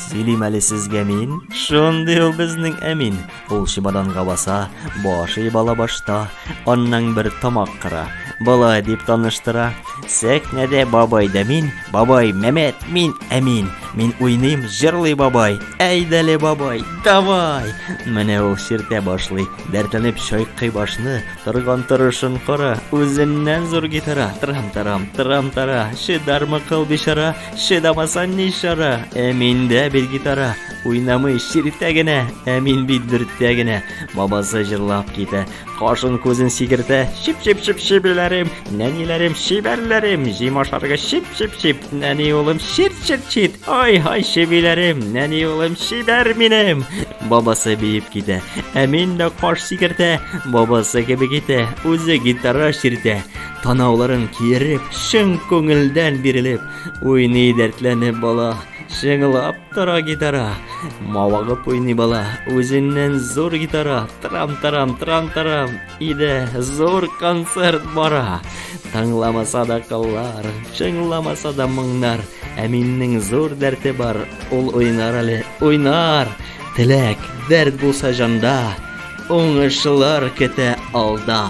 Сөйлим әле сезгә мин. Шундый ул безнең Әмин. Ул чемоданга баса, башы бала башта, аннан бер тамак кыра. Болай дип таныштыра. Сәхнәдә бабай да мин, бабай Мәмәт, мин Әмин. Мин уйныйм, җырлый бабай. Әйдәле бабай, давай! Менә ул ширтә башлый, дәртләнеп чайкый башны, торган торышын кара, үзеннән зур гитара. Трам-тарам, трам-тара, шидармы кыл бичара, Чыдамасам ни чара, ә миндә бит гитара. Уйнамый чиртә генә, ә мин бит дөртә генә. Бабасы җырлап китә, кашын күзен сигертә. Чип чип чип чибиләрем, нәниләрем чибәрләрем, җим ашарга чип чип чип. Нәни улым чир чир чит. Ай ай чибиләрем, нәни улым чибәр минем. Бабасы биеп китә, ә мин дә каш сигертә. Бабасы кебек итә, үзе гитара чиртә. Танауларын киереп, чын күңелдән бирелеп, уйный дәртләнеп бала, шыңлап тора гитара. Мавыгып уйный бала, үзеннән зур гитара, трам-тарам, трам-тарам, иде зур концерт бара. Тыңламаса да кыллар, чыңламаса да моңнар, ә миннең зур дәрте бар, ул уйнар әле, уйнар. Теләк, дәрт булса җанда, уңышлар көтә алда.